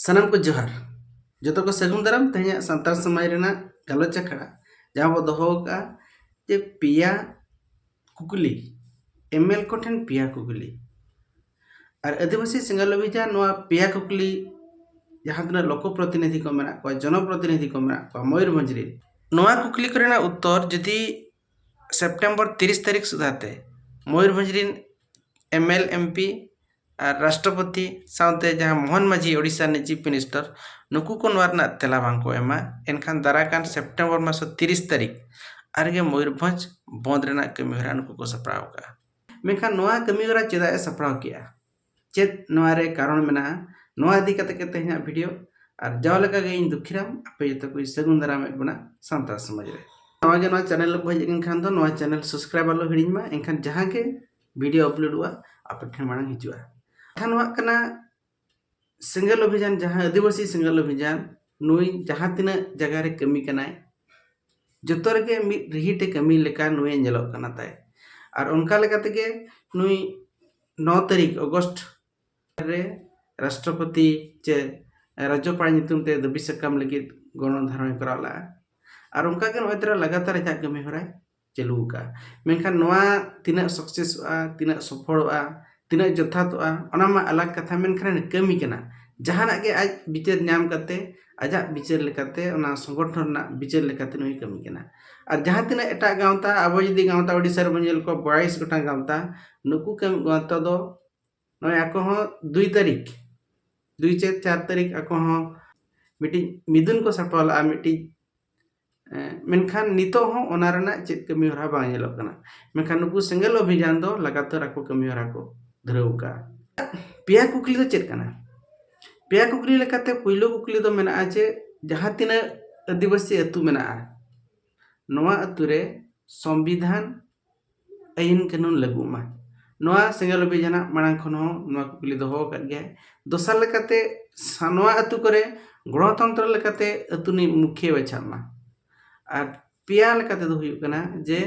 ᱥᱟᱱᱟᱢ ᱠᱚ ᱡᱚᱦᱟᱨ ᱡᱚᱛᱚ ᱠᱚ ᱥᱟᱹᱜᱩᱱ ᱫᱟᱨᱟᱢ ᱛᱮᱦᱮᱧᱟᱜ ᱥᱟᱱᱛᱟᱲ ᱥᱚᱢᱟᱡᱽ ᱨᱮᱱᱟᱜ ᱜᱟᱞᱚᱪ ᱟᱠᱷᱲᱟ ᱡᱟᱦᱟᱸ ᱵᱚ ᱫᱚᱦᱚ ᱟᱠᱟᱫᱼᱟ ᱡᱮ ᱯᱮᱭᱟ ᱠᱩᱠᱞᱤ ᱮᱢᱮᱞ ᱠᱚᱴᱷᱮᱱ ᱯᱮᱭᱟ ᱠᱩᱠᱞᱤ ᱟᱨ ᱟᱹᱫᱤᱵᱟᱹᱥᱤ ᱥᱤᱸᱜᱟᱞ ᱚᱵᱷᱤᱡᱟᱱ ᱱᱚᱣᱟ ᱯᱮᱭᱟ ᱠᱩᱠᱞᱤ ᱡᱟᱦᱟᱸ ᱛᱤᱱᱟᱹᱜ ᱞᱚᱠᱚ ᱯᱨᱚᱛᱤᱱᱤᱫᱷᱤ ᱠᱚ ᱢᱮᱱᱟᱜ ᱠᱚᱣᱟ ᱡᱚᱱᱚ ᱯᱨᱚᱛᱤᱱᱤᱫᱷᱤ ᱠᱚ ᱢᱮᱱᱟᱜ ᱠᱚᱣᱟ ᱢᱚᱭᱩᱨᱵᱷᱚᱸᱡᱽ ᱨᱮᱱ ᱱᱚᱣᱟ ᱠᱩᱠᱞᱤ ᱠᱚᱨᱮᱱᱟᱜ ᱩᱛᱛᱚᱨ ᱡᱩᱫᱤ ᱥᱮᱯᱴᱮᱢᱵᱚᱨ ᱛᱤᱨᱤᱥ ᱛᱟᱹᱨᱤᱠᱷ ᱥᱩᱫᱷᱟ ᱛᱮ ᱢᱚᱭᱩᱨᱵᱷᱚᱸᱡᱽ ᱨᱤᱱ ᱮᱢ ᱮᱞ ᱮᱢ ᱯᱤ ᱟᱨ ᱨᱟᱥᱴᱨᱚᱯᱚᱛᱤ ᱥᱟᱶᱛᱮ ᱡᱟᱦᱟᱸ ᱢᱳᱦᱚᱱ ᱢᱟᱹᱡᱷᱤ ᱳᱰᱤᱥᱟ ᱨᱤᱱᱤᱡ ᱪᱤᱯᱷ ᱢᱤᱱᱤᱥᱴᱚᱨ ᱱᱩᱠᱩ ᱠᱚ ᱱᱚᱣᱟ ᱨᱮᱱᱟᱜ ᱛᱮᱞᱟ ᱵᱟᱝ ᱠᱚ ᱮᱢᱟ ᱮᱱᱠᱷᱟᱱ ᱫᱟᱨᱟᱭ ᱠᱟᱱ ᱥᱮᱯᱴᱮᱢᱵᱚᱨ ᱢᱟᱥ ᱛᱤᱨᱤᱥ ᱛᱟᱹᱨᱤᱠᱷ ᱟᱨ ᱜᱮ ᱢᱚᱭᱩᱨᱵᱷᱚᱸᱡᱽ ᱵᱚᱸᱫᱽ ᱨᱮᱱᱟᱜ ᱠᱟᱹᱢᱤ ᱦᱚᱨᱟ ᱱᱩᱠᱩ ᱠᱚ ᱥᱟᱯᱲᱟᱣ ᱟᱠᱟᱫᱼᱟ ᱢᱮᱱᱠᱷᱟᱱ ᱱᱚᱣᱟ ᱠᱟᱹᱢᱤ ᱦᱚᱨᱟ ᱪᱮᱫᱟᱜ ᱮ ᱥᱟᱯᱲᱟᱣ ᱠᱮᱫᱼᱟ ᱪᱮᱫ ᱱᱚᱣᱟ ᱨᱮ ᱠᱟᱨᱚᱱ ᱢᱮᱱᱟᱜᱼᱟ ᱱᱚᱣᱟ ᱤᱫᱤ ᱠᱟᱛᱮ ᱜᱮ ᱛᱮᱦᱮᱧᱟᱜ ᱵᱷᱤᱰᱤᱭᱳ ᱟᱨ ᱡᱟᱣ ᱞᱮᱠᱟ ᱜᱮ ᱤᱧ ᱫᱩᱠᱷᱤᱨᱟᱢ ᱟᱯᱮ ᱡᱚᱛᱚ ᱠᱚ ᱥᱟᱹᱜᱩᱱ ᱫᱟᱨᱟᱢᱮᱫ ᱵᱚᱱᱟ ᱥᱟᱱᱛᱟᱲ ᱥᱚᱢᱟᱡᱽ ᱨᱮ ᱱᱚᱣᱟ ᱜᱮ ᱱᱚᱣᱟ ᱪᱮᱱᱮᱞ ᱨᱮ ᱦᱮᱡ ᱞᱮᱱᱠᱷᱟᱱ ᱫᱚ ᱱᱚᱣᱟ ᱪᱮᱱᱮᱞ ᱥᱟᱵᱥᱠᱨᱟᱭᱤᱵ ᱟᱞᱚ ᱦᱤᱲᱤᱧ ᱢᱟ ᱮᱱᱠᱷᱟᱱ ᱡᱟᱦᱟᱸ ᱜᱮ ᱵᱷᱤᱰᱤᱭᱳ ᱟᱯᱞᱳᱰᱚᱜᱼᱟ ᱟᱯᱮ ᱴᱷᱮᱱ ᱢᱟᱲᱟᱝ ᱦᱤᱡᱩᱜᱼᱟ ᱠᱟᱛᱷᱟ ᱱᱚᱣᱟ ᱠᱟᱱᱟ ᱥᱮᱸᱜᱮᱞ ᱚᱵᱷᱤᱡᱟᱱ ᱡᱟᱦᱟᱸ ᱟᱹᱫᱤᱵᱟᱹᱥᱤ ᱥᱮᱸᱜᱮᱞ ᱚᱵᱷᱤᱡᱟᱱ ᱱᱩᱭ ᱡᱟᱦᱟᱸ ᱛᱤᱱᱟᱹᱜ ᱡᱟᱭᱜᱟ ᱨᱮ ᱠᱟᱹᱢᱤ ᱠᱟᱱᱟᱭ ᱡᱚᱛᱚ ᱨᱮᱜᱮ ᱢᱤᱫ ᱨᱤᱦᱤᱴᱮ ᱠᱟᱹᱢᱤ ᱞᱮᱠᱟ ᱱᱩᱭᱮ ᱧᱮᱞᱚᱜ ᱠᱟᱱᱟ ᱛᱟᱭ ᱟᱨ ᱚᱱᱠᱟ ᱞᱮᱠᱟ ᱛᱮᱜᱮ ᱱᱩᱭ ᱱᱚ ᱛᱟᱹᱨᱤᱠᱷ ᱚᱜᱚᱥᱴ ᱨᱮ ᱨᱟᱥᱴᱨᱚᱯᱚᱛᱤ ᱪᱮ ᱨᱟᱡᱽᱡᱚᱯᱟᱲ ᱧᱩᱛᱩᱢ ᱛᱮ ᱫᱟᱹᱵᱤ ᱥᱟᱠᱟᱢ ᱞᱟᱹᱜᱤᱫ ᱜᱚᱱᱚᱝ ᱫᱷᱟᱨᱚᱱ ᱠᱚᱨᱟᱣ ᱞᱟᱜᱼᱟ ᱟᱨ ᱚᱱᱠᱟ ᱜᱮ ᱱᱚᱜᱼᱚᱭ ᱛᱚᱨᱟ ᱞᱟᱜᱟᱛᱟᱨ ᱟᱡᱟᱜ ᱠᱟᱹᱢᱤ ᱦᱚᱨᱟᱭ ᱪᱟᱹᱞᱩ ᱟᱠᱟᱜᱼᱟ ᱢᱮᱱᱠᱷᱟᱱ ᱱᱚᱣᱟ ᱛᱤᱱᱟᱹᱜ ᱥᱟᱠᱥᱮᱥᱚᱜᱼᱟ ᱛᱤᱱᱟᱹᱜ ᱥᱚᱯᱷᱚᱞᱚᱜᱼᱟ ᱛᱤᱱᱟᱹᱜ ᱡᱚᱛᱷᱟᱛᱚᱜᱼᱟ ᱚᱱᱟ ᱢᱟ ᱟᱞᱟᱜᱽ ᱠᱟᱛᱷᱟ ᱢᱮᱱᱠᱷᱟᱱ ᱠᱟᱹᱢᱤ ᱠᱟᱱᱟ ᱡᱟᱦᱟᱱᱟᱜ ᱜᱮ ᱟᱡ ᱵᱤᱪᱟᱹᱨ ᱧᱟᱢ ᱠᱟᱛᱮ ᱟᱡᱟᱜ ᱵᱤᱪᱟᱹᱨ ᱞᱮᱠᱟᱛᱮ ᱚᱱᱟ ᱥᱚᱝᱜᱚᱴᱷᱚᱱ ᱨᱮᱱᱟᱜ ᱵᱤᱪᱟᱹᱨ ᱞᱮᱠᱟᱛᱮ ᱱᱩᱭ ᱠᱟᱹᱢᱤ ᱠᱟᱱᱟ ᱟᱨ ᱡᱟᱦᱟᱸ ᱛᱤᱱᱟᱹᱜ ᱮᱴᱟᱜ ᱜᱟᱶᱛᱟ ᱟᱵᱚ ᱡᱩᱫᱤ ᱜᱟᱶᱛᱟ ᱳᱰᱤᱥᱟ ᱨᱮᱵᱚᱱ ᱧᱮᱞ ᱠᱚᱣᱟ ᱵᱟᱭᱤᱥ ᱜᱚᱴᱟᱝ ᱜᱟᱶᱛᱟ ᱱᱩᱠᱩ ᱠᱟᱹᱢᱤ ᱜᱟᱶᱛᱟ ᱫᱚ ᱱᱚᱜᱼᱚᱭ ᱟᱠᱚ ᱦᱚᱸ ᱫᱩᱭ ᱛᱟᱹᱨᱤᱠᱷ ᱫᱩᱭ ᱪᱟᱹᱛ ᱪᱟᱨ ᱛᱟᱹᱨᱤᱠᱷ ᱟᱠᱚ ᱦᱚᱸ ᱢᱤᱫᱴᱤᱡ ᱢᱤᱫᱩᱱ ᱠᱚ ᱥᱟᱯᱲᱟᱣ ᱞᱟᱜᱼᱟ ᱢᱤᱫᱴᱤᱡ ᱢᱮᱱᱠᱷᱟᱱ ᱱᱤᱛᱚᱜ ᱦᱚᱸ ᱚᱱᱟ ᱨᱮᱱᱟᱜ ᱪᱮᱫ ᱠᱟᱹᱢᱤ ᱦᱚᱨᱟ ᱵᱟᱝ ᱧᱮᱞᱚᱜ ᱠᱟᱱᱟ ᱢᱮᱱᱠᱷᱟᱱ ᱱᱩᱠᱩ ᱥᱮᱸᱜᱮᱞ ᱚᱵᱷᱤᱡᱟᱱ ᱫᱚ ᱞᱟᱜᱟᱛᱟᱨ ᱟᱠᱚ ᱠᱟᱹᱢᱤ ᱦᱚᱨᱟ ᱠᱚ ᱫᱷᱩᱨᱟᱹᱣ ᱟᱠᱟᱫᱼᱟ ᱯᱮᱭᱟ ᱠᱩᱠᱞᱤ ᱫᱚ ᱪᱮᱫ ᱠᱟᱱᱟ ᱯᱮᱭᱟ ᱠᱩᱠᱞᱤ ᱞᱮᱠᱟᱛᱮ ᱯᱳᱭᱞᱳ ᱠᱩᱠᱞᱤ ᱫᱚ ᱢᱮᱱᱟᱜᱼᱟ ᱡᱮ ᱡᱟᱦᱟᱸ ᱛᱤᱱᱟᱹᱜ ᱟᱹᱫᱤᱵᱟᱹᱥᱤ ᱟᱹᱛᱩ ᱢᱮᱱᱟᱜᱼᱟ ᱱᱚᱣᱟ ᱟᱹᱛᱩ ᱨᱮ ᱥᱚᱝᱵᱤᱫᱷᱟᱱ ᱟᱹᱭᱤᱱ ᱠᱟᱹᱱᱩᱱ ᱞᱟᱹᱜᱩᱜ ᱢᱟ ᱱᱚᱣᱟ ᱥᱮᱸᱜᱮᱞ ᱚᱵᱷᱤᱡᱟᱱᱟᱜ ᱢᱟᱲᱟᱝ ᱠᱷᱚᱱ ᱦᱚᱸ ᱱᱚᱣᱟ ᱠᱩᱠᱞᱤ ᱫᱚᱦᱚ ᱟᱠᱟᱫ ᱜᱮᱭᱟᱭ ᱫᱚᱥᱟᱨ ᱞᱮᱠᱟᱛᱮ ᱱᱚᱣᱟ ᱟᱹᱛᱩ ᱠᱚᱨᱮ ᱜᱚᱱᱚᱛᱚᱱᱛᱨᱚ ᱞᱮᱠᱟᱛᱮ ᱟᱹᱛᱩ ᱨᱤᱱᱤᱡ ᱢᱩᱠᱷᱤᱭᱟᱹ ᱵᱟᱪᱷᱟᱜ ᱢᱟ ᱟᱨ ᱯᱮᱭᱟ ᱞᱮᱠᱟ ᱛᱮᱫᱚ ᱦᱩᱭᱩᱜ ᱠᱟᱱᱟ ᱡᱮ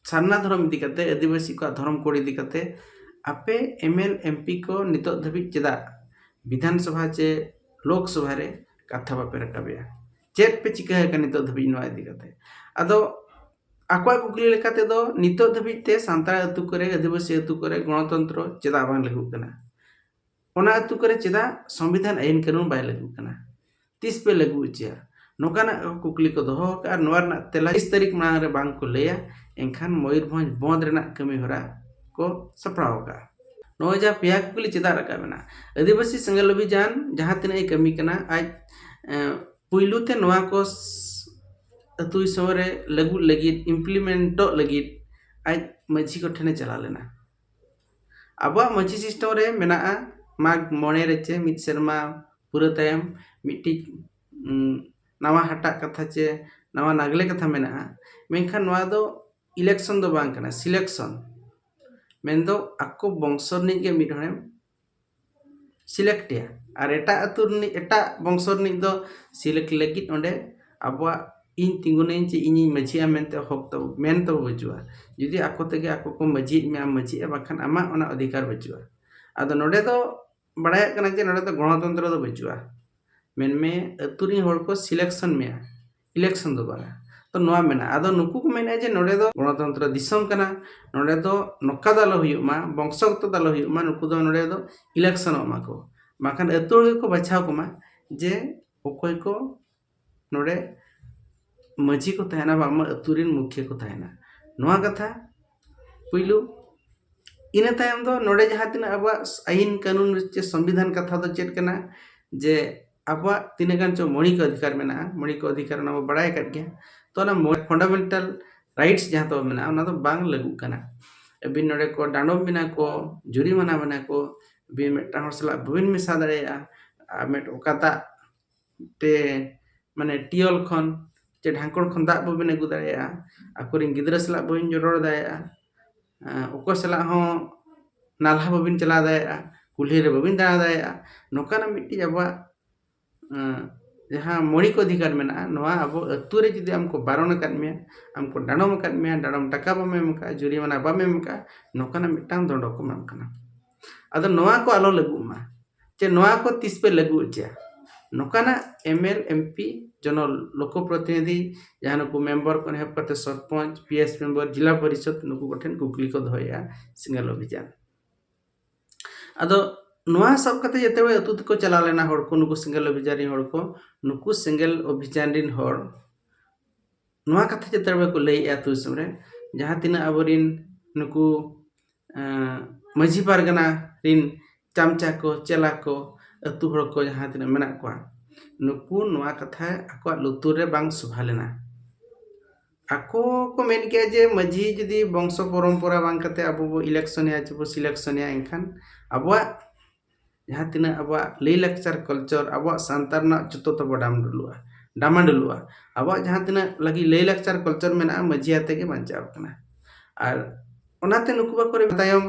ᱥᱟᱨᱱᱟ ᱫᱷᱚᱨᱚᱢ ᱤᱫᱤ ᱠᱟᱛᱮ ᱟᱹᱫᱤᱵᱟᱹᱥᱤ ᱠᱚᱣᱟᱜ ᱫᱷᱚᱨᱚᱢ ᱠᱳᱰ ᱤᱫᱤ ᱠᱟᱛᱮ ᱟᱯᱮ ᱮᱢ ᱮᱞ ᱮᱢ ᱯᱤ ᱠᱚ ᱱᱤᱛᱚᱜ ᱫᱷᱟᱹᱵᱤᱡ ᱪᱮᱫᱟᱜ ᱵᱤᱫᱷᱟᱱ ᱥᱚᱵᱷᱟ ᱪᱮ ᱞᱳᱠ ᱥᱚᱵᱷᱟ ᱨᱮ ᱠᱟᱛᱷᱟ ᱵᱟᱯᱮ ᱨᱟᱠᱟᱵᱮᱜᱼᱟ ᱪᱮᱫ ᱯᱮ ᱪᱤᱠᱟᱹ ᱟᱠᱟᱱᱟ ᱱᱤᱛᱚᱜ ᱫᱷᱟᱹᱵᱤᱡ ᱱᱚᱣᱟ ᱤᱫᱤ ᱠᱟᱛᱮ ᱟᱫᱚ ᱟᱠᱚᱣᱟᱜ ᱠᱩᱠᱞᱤ ᱞᱮᱠᱟ ᱛᱮᱫᱚ ᱱᱤᱛᱚᱜ ᱫᱷᱟᱹᱵᱤᱡ ᱛᱮ ᱥᱟᱱᱛᱟᱲ ᱟᱹᱛᱩ ᱠᱚᱨᱮ ᱟᱹᱫᱤᱵᱟᱹᱥᱤ ᱟᱹᱛᱩ ᱠᱚᱨᱮ ᱜᱚᱱᱚᱛᱚᱱᱛᱨᱚ ᱪᱮᱫᱟᱜ ᱵᱟᱝ ᱞᱟᱹᱜᱩᱜ ᱠᱟᱱᱟ ᱚᱱᱟ ᱟᱹᱛᱩ ᱠᱚᱨᱮ ᱪᱮᱫᱟᱜ ᱥᱚᱝᱵᱤᱫᱷᱟᱱ ᱟᱹᱭᱤᱱ ᱠᱟᱹᱱᱩᱱ ᱵᱟᱭ ᱞᱟᱹᱜᱩᱜ ᱠᱟᱱᱟ ᱛᱤᱥ ᱯᱮ ᱞᱟᱹᱜᱩ ᱦᱚᱪᱚᱭᱟ ᱱᱚᱝᱠᱟᱱᱟᱜ ᱠᱩᱠᱞᱤ ᱠᱚ ᱫᱚᱦᱚ ᱟᱠᱟᱫᱼᱟ ᱱᱚᱣᱟ ᱨᱮᱱᱟᱜ ᱛᱮᱞᱟ ᱛᱤᱥ ᱛᱟᱹᱨᱤᱠᱷ ᱢᱟᱲᱟᱝ ᱨᱮ ᱵᱟᱝ ᱠᱚ ᱞᱟᱹᱭᱟ ᱮᱱᱠᱷᱟᱱ ᱢᱚᱭᱩᱨᱵᱷᱚᱸᱡᱽ ᱵᱚᱸᱫᱽ ᱨᱮᱱᱟᱜ ᱠᱟᱹᱢᱤ ᱦᱚᱨᱟ ᱠᱚ ᱥᱟᱯᱲᱟᱣ ᱟᱠᱟᱫᱼᱟ ᱱᱚᱜᱼᱚᱭ ᱡᱟᱦᱟᱸ ᱯᱮᱭᱟ ᱠᱩᱠᱞᱤ ᱪᱮᱫᱟᱜ ᱨᱟᱠᱟᱵ ᱮᱱᱟ ᱟᱹᱫᱤᱵᱟᱹᱥᱤ ᱥᱮᱸᱜᱮᱞ ᱚᱵᱷᱤᱡᱟᱱ ᱡᱟᱦᱟᱸ ᱛᱤᱱᱟᱹᱜ ᱮ ᱠᱟᱹᱢᱤ ᱠᱟᱱᱟ ᱟᱡ ᱯᱩᱭᱞᱩ ᱛᱮ ᱱᱚᱣᱟ ᱠᱚ ᱟᱹᱛᱩ ᱫᱤᱥᱚᱢ ᱨᱮ ᱞᱟᱹᱜᱩᱜ ᱞᱟᱹᱜᱤᱫ ᱤᱢᱯᱞᱤᱢᱮᱱᱴᱚᱜ ᱞᱟᱹᱜᱤᱫ ᱟᱡ ᱢᱟᱹᱡᱷᱤ ᱠᱚᱴᱷᱮᱱᱮ ᱪᱟᱞᱟᱣ ᱞᱮᱱᱟ ᱟᱵᱚᱣᱟᱜ ᱢᱟᱹᱡᱷᱤ ᱥᱤᱥᱴᱮᱢ ᱨᱮ ᱢᱮᱱᱟᱜᱼᱟ ᱢᱟᱜᱽ ᱢᱚᱬᱮ ᱨᱮ ᱪᱮ ᱢᱤᱫ ᱥᱮᱨᱢᱟ ᱯᱩᱨᱟᱹᱣ ᱛᱟᱭᱚᱢ ᱢᱤᱫᱴᱤᱡ ᱱᱟᱣᱟ ᱦᱟᱴᱟᱜ ᱠᱟᱛᱷᱟ ᱪᱮ ᱱᱟᱣᱟ ᱱᱟᱜᱽᱞᱮ ᱠᱟᱛᱷᱟ ᱢᱮᱱᱟᱜᱼᱟ ᱢᱮᱱᱠᱷᱟᱱ ᱱᱚᱣᱟ ᱫᱚ ᱤᱞᱮᱠᱥᱚᱱ ᱫᱚ ᱵᱟᱝ ᱠᱟᱱᱟ ᱥᱤᱞᱮᱠᱥᱚᱱ ᱢᱮᱱᱫᱚ ᱟᱠᱚ ᱵᱚᱝᱥᱚ ᱨᱤᱱᱤᱡ ᱜᱮ ᱢᱤᱫ ᱦᱚᱲᱮᱢ ᱥᱤᱞᱮᱠᱴᱮᱭᱟ ᱟᱨ ᱮᱴᱟᱜ ᱟᱹᱛᱩ ᱨᱤᱱᱤᱡ ᱮᱴᱟᱜ ᱵᱚᱝᱥᱚ ᱨᱤᱱᱤᱡ ᱫᱚ ᱥᱤᱞᱮᱠᱴ ᱞᱟᱹᱜᱤᱫ ᱚᱸᱰᱮ ᱟᱵᱚᱣᱟᱜ ᱤᱧ ᱛᱤᱸᱜᱩᱱᱟᱹᱧ ᱪᱮ ᱤᱧᱤᱧ ᱢᱟᱹᱡᱷᱤᱜᱼᱟ ᱢᱮᱱᱛᱮ ᱦᱚᱠ ᱛᱟᱵᱚ ᱢᱮᱱ ᱛᱟᱵᱚ ᱵᱟᱹᱪᱩᱜᱼᱟ ᱡᱩᱫᱤ ᱟᱠᱚ ᱛᱮᱜᱮ ᱟᱠᱚ ᱠᱚ ᱢᱟᱹᱡᱷᱤᱭᱮᱫ ᱢᱮᱭᱟ ᱢᱟᱹᱡᱷᱤᱜᱼᱟ ᱵᱟᱝᱠᱷᱟᱱ ᱟᱢᱟᱜ ᱚᱱᱟ ᱚᱫᱷᱤᱠᱟᱨ ᱵᱟᱹᱪᱩᱜᱼᱟ ᱟᱫᱚ ᱱᱚᱰᱮ ᱫᱚ ᱵᱟᱲᱟᱭᱚᱜ ᱠᱟᱱᱟ ᱡᱮ ᱱᱚᱰᱮ ᱫᱚ ᱜᱚᱱᱚᱛᱚᱱᱛᱨᱚ ᱫᱚ ᱵᱟᱹᱪᱩᱜᱼᱟ ᱢᱮᱱᱢᱮ ᱟᱹᱛᱩ ᱨᱤᱱ ᱦᱚᱲ ᱠᱚ ᱥᱤᱞᱮᱠᱥᱚᱱ ᱢᱮᱭᱟ ᱤᱞᱮᱠᱥᱚᱱ ᱫᱚ ᱵᱟᱝᱟ ᱛᱚ ᱱᱚᱣᱟ ᱢᱮᱱᱟᱜᱼᱟ ᱟᱫᱚ ᱱᱩᱠᱩ ᱠᱚ ᱢᱮᱱᱮᱫᱼᱟ ᱡᱮ ᱱᱚᱰᱮ ᱫᱚ ᱜᱚᱱᱚᱛᱚᱱᱛᱨᱚ ᱫᱤᱥᱚᱢ ᱠᱟᱱᱟ ᱱᱚᱰᱮ ᱫᱚ ᱱᱚᱝᱠᱟ ᱫᱚ ᱟᱞᱚ ᱦᱩᱭᱩᱜ ᱢᱟ ᱵᱚᱝᱥᱚᱜᱚᱛᱚ ᱫᱚ ᱟᱞᱚ ᱦᱩᱭᱩᱜ ᱢᱟ ᱱᱩᱠᱩ ᱫᱚ ᱱᱚᱰᱮ ᱫᱚ ᱤᱞᱮᱠᱥᱚᱱᱚᱜ ᱢᱟᱠᱚ ᱵᱟᱝᱠᱷᱟᱱ ᱟᱹᱛᱩ ᱦᱚᱲ ᱜᱮᱠᱚ ᱵᱟᱪᱷᱟᱣ ᱠᱚᱢᱟ ᱡᱮ ᱚᱠᱚᱭ ᱠᱚ ᱱᱚᱰᱮ ᱢᱟᱺᱡᱷᱤ ᱠᱚ ᱛᱟᱦᱮᱱᱟ ᱵᱟᱝᱢᱟ ᱟᱹᱛᱩ ᱨᱮᱱ ᱢᱩᱠᱷᱤᱭᱟᱹ ᱠᱚ ᱛᱟᱦᱮᱱᱟ ᱱᱚᱣᱟ ᱠᱟᱛᱷᱟ ᱯᱩᱭᱞᱩ ᱤᱱᱟᱹ ᱛᱟᱭᱚᱢ ᱫᱚ ᱱᱚᱰᱮ ᱡᱟᱦᱟᱸ ᱛᱤᱱᱟᱹᱜ ᱟᱵᱚᱣᱟᱜ ᱟᱹᱭᱤᱱ ᱠᱟᱹᱱᱩᱱ ᱪᱮ ᱥᱚᱝᱵᱤᱫᱷᱟᱱ ᱠᱟᱛᱷᱟ ᱫᱚ ᱪᱮᱫ ᱠᱟᱱᱟ ᱡᱮ ᱟᱵᱚᱣᱟᱜ ᱛᱤᱱᱟᱹᱜ ᱜᱟᱱ ᱪᱚᱝ ᱢᱳᱣᱞᱤᱠ ᱚᱫᱷᱤᱠᱟᱨ ᱢᱮᱱᱟᱜᱼᱟ ᱢᱳᱣᱞᱤᱠ ᱚᱫᱷᱤᱠᱟᱨ ᱚᱱᱟ ᱵᱚᱱ ᱵᱟᱲᱟᱭ ᱟᱠᱟᱫ ᱜᱮᱭᱟ ᱛᱚ ᱚᱱᱟ ᱯᱷᱚᱱᱰᱟᱢᱮᱱᱴᱟᱞ ᱨᱟᱭᱤᱴᱥ ᱡᱟᱦᱟᱸ ᱛᱟᱵᱚ ᱢᱮᱱᱟᱜᱼᱟ ᱚᱱᱟ ᱫᱚ ᱵᱟᱝ ᱞᱟᱹᱜᱩᱜ ᱠᱟᱱᱟ ᱟᱹᱵᱤᱱ ᱱᱚᱰᱮ ᱠᱚ ᱰᱟᱸᱰᱚᱢ ᱵᱤᱱᱟ ᱠᱚ ᱡᱩᱨᱤᱢᱟᱱᱟ ᱵᱤᱱᱟ ᱠᱚ ᱟᱹᱵᱤᱱ ᱢᱤᱫᱴᱟᱝ ᱦᱚᱲ ᱥᱟᱞᱟᱜ ᱵᱟᱹᱵᱤᱱ ᱢᱮᱥᱟ ᱫᱟᱲᱮᱭᱟᱜᱼᱟ ᱟᱨ ᱢᱤᱫ ᱚᱠᱟᱴᱟᱜ ᱛᱮ ᱢᱟᱱᱮ ᱴᱤᱭᱚᱞ ᱠᱷᱚᱱ ᱪᱮ ᱰᱷᱟᱝᱠᱚᱲ ᱠᱷᱚᱱ ᱫᱟᱜ ᱵᱟᱹᱵᱤᱱ ᱟᱹᱜᱩ ᱫᱟᱲᱮᱭᱟᱜᱼᱟ ᱟᱠᱚᱨᱮᱱ ᱜᱤᱫᱽᱨᱟᱹ ᱥᱟᱞᱟᱜ ᱵᱟᱹᱵᱤᱱ ᱨᱚᱲ ᱫᱟᱲᱮᱭᱟᱜᱼᱟ ᱚᱠᱚᱭ ᱥᱟᱞᱟᱜ ᱦᱚᱸ ᱱᱟᱞᱦᱟ ᱵᱟᱹᱵᱤᱱ ᱪᱟᱞᱟᱣ ᱫᱟᱲᱮᱭᱟᱜᱼᱟ ᱠᱩᱞᱦᱤ ᱨᱮ ᱵᱟᱹᱵᱤᱱ ᱫᱟᱬᱟ ᱫᱟᱲᱮᱭᱟᱜᱼᱟ ᱱᱚᱝᱠᱟᱱᱟᱜ ᱢᱤᱫᱴᱤᱡ ᱟᱵᱚᱣᱟᱜ ᱡᱟᱦᱟᱸ ᱢᱳᱣᱞᱤᱠ ᱚᱫᱷᱤᱠᱟᱨ ᱢᱮᱱᱟᱜᱼᱟ ᱱᱚᱣᱟ ᱟᱵᱚ ᱟᱹᱛᱩ ᱨᱮ ᱡᱩᱫᱤ ᱟᱢ ᱠᱚ ᱵᱟᱨᱚᱱ ᱟᱠᱟᱫ ᱢᱮᱭᱟ ᱟᱢ ᱠᱚ ᱰᱟᱲᱚᱢ ᱟᱠᱟᱫ ᱢᱮᱭᱟ ᱰᱟᱲᱚᱢ ᱴᱟᱠᱟ ᱵᱟᱢ ᱮᱢ ᱟᱠᱟᱫᱼᱟ ᱡᱩᱨᱤᱢᱟᱱᱟ ᱵᱟᱢ ᱮᱢ ᱟᱠᱟᱫᱼᱟ ᱱᱚᱝᱠᱟᱱᱟᱜ ᱢᱤᱫᱴᱟᱝ ᱫᱚᱱᱰᱚ ᱠᱚ ᱮᱢᱟᱢ ᱠᱟᱱᱟ ᱟᱫᱚ ᱱᱚᱣᱟ ᱠᱚ ᱟᱞᱚ ᱞᱟᱹᱜᱩᱜ ᱢᱟ ᱪᱮ ᱱᱚᱣᱟ ᱠᱚ ᱛᱤᱥ ᱯᱮ ᱞᱟᱹᱜᱩ ᱦᱚᱪᱚᱭᱟ ᱱᱚᱝᱠᱟᱱᱟᱜ ᱮᱢ ᱮᱞ ᱮᱢ ᱯᱤ ᱡᱮᱱᱚ ᱞᱳᱠᱚ ᱯᱨᱚᱛᱤᱱᱤᱫᱷᱤ ᱡᱟᱦᱟᱸ ᱱᱩᱠᱩ ᱢᱮᱢᱵᱚᱨ ᱠᱷᱚᱱ ᱮᱦᱚᱵ ᱠᱟᱛᱮ sarpanch P S member zila parishad ᱱᱩᱠᱩ ᱠᱚᱴᱷᱮᱱ ᱠᱩᱠᱞᱤ ᱠᱚ ᱫᱚᱦᱚᱭᱮᱜᱼᱟ ᱥᱤᱸᱜᱟᱞ ᱚᱵᱷᱤᱡᱟᱱ ᱟᱫᱚ ᱱᱚᱣᱟ ᱥᱟᱵ ᱠᱟᱛᱮ ᱡᱮᱛᱮ ᱦᱚᱲ ᱟᱹᱛᱩ ᱛᱮᱠᱚ ᱪᱟᱞᱟᱣ ᱞᱮᱱᱟ ᱦᱚᱲ ᱠᱚ ᱱᱩᱠᱩ ᱥᱤᱸᱜᱟᱞ ᱚᱵᱷᱤᱡᱟᱱ ᱨᱮᱱ ᱦᱚᱲ ᱠᱚ ᱱᱩᱠᱩ ᱥᱤᱸᱜᱟᱞ ᱚᱵᱷᱤᱡᱟᱱ ᱨᱮᱱ ᱦᱚᱲ ᱱᱚᱣᱟ ᱠᱟᱛᱷᱟ ᱪᱮᱫ ᱛᱟᱨ ᱵᱟᱠᱚ ᱞᱟᱹᱭᱮᱜᱼᱟ ᱟᱹᱛᱩ ᱫᱤᱥᱚᱢ ᱨᱮ ᱡᱟᱦᱟᱸ ᱛᱤᱱᱟᱹᱜ ᱟᱵᱚᱨᱤᱱ ᱱᱩᱠᱩ ᱢᱟᱹᱡᱷᱤ ᱯᱟᱨᱜᱟᱱᱟ ᱨᱤᱱ ᱪᱟᱢᱪᱟ ᱠᱚ ᱪᱮᱞᱟ ᱠᱚ ᱟᱹᱛᱩ ᱦᱚᱲ ᱠᱚ ᱡᱟᱦᱟᱸ ᱛᱤᱱᱟᱹᱜ ᱢᱮᱱᱟᱜ ᱠᱚᱣᱟ ᱱᱩᱠᱩ ᱱᱚᱣᱟ ᱠᱟᱛᱷᱟ ᱟᱠᱚᱣᱟᱜ ᱞᱩᱛᱩᱨ ᱨᱮ ᱵᱟᱝ ᱥᱚᱵᱷᱟ ᱞᱮᱱᱟ ᱟᱠᱚ ᱠᱚ ᱢᱮᱱ ᱠᱮᱜᱼᱟ ᱡᱮ ᱢᱟᱹᱡᱷᱤ ᱡᱩᱫᱤ ᱵᱚᱝᱥᱚ ᱯᱚᱨᱚᱢᱯᱚᱨᱟ ᱵᱟᱝ ᱠᱟᱛᱮ ᱟᱵᱚ ᱵᱚ ᱤᱞᱮᱠᱥᱚᱱᱮᱭᱟ ᱪᱮ ᱵᱚ ᱥᱤᱞᱮᱠᱥᱚᱱᱮᱭᱟ ᱮᱱᱠᱷᱟᱱ ᱟᱵᱚᱣᱟᱜ ᱡᱟᱦᱟᱸ ᱛᱤᱱᱟᱹᱜ ᱟᱵᱚᱣᱟᱜ ᱞᱟᱹᱭ ᱞᱟᱠᱪᱟᱨ ᱠᱟᱞᱪᱟᱨ ᱟᱵᱚᱣᱟᱜ ᱥᱟᱶᱛᱟ ᱨᱮᱱᱟᱜ ᱡᱚᱛᱚ ᱛᱟᱵᱚ ᱰᱟᱢ ᱰᱩᱞᱩᱜᱼᱟ ᱰᱟᱢᱟ ᱰᱩᱞᱩᱜᱼᱟ ᱟᱵᱚᱣᱟᱜ ᱡᱟᱦᱟᱸ ᱛᱤᱱᱟᱹᱜ ᱞᱟᱹᱜᱤᱫ ᱞᱟᱹᱭ ᱞᱟᱠᱪᱟᱨ ᱠᱟᱞᱪᱟᱨ ᱢᱮᱱᱟᱜᱼᱟ ᱢᱟᱹᱡᱷᱤ ᱟᱛᱮ ᱜᱮ ᱵᱟᱧᱪᱟᱣ ᱟᱠᱟᱱᱟ ᱟᱨ ᱚᱱᱟᱛᱮ ᱱᱩᱠᱩ ᱵᱟᱠᱚ ᱨᱮᱵᱮᱱ ᱛᱟᱭᱚᱢ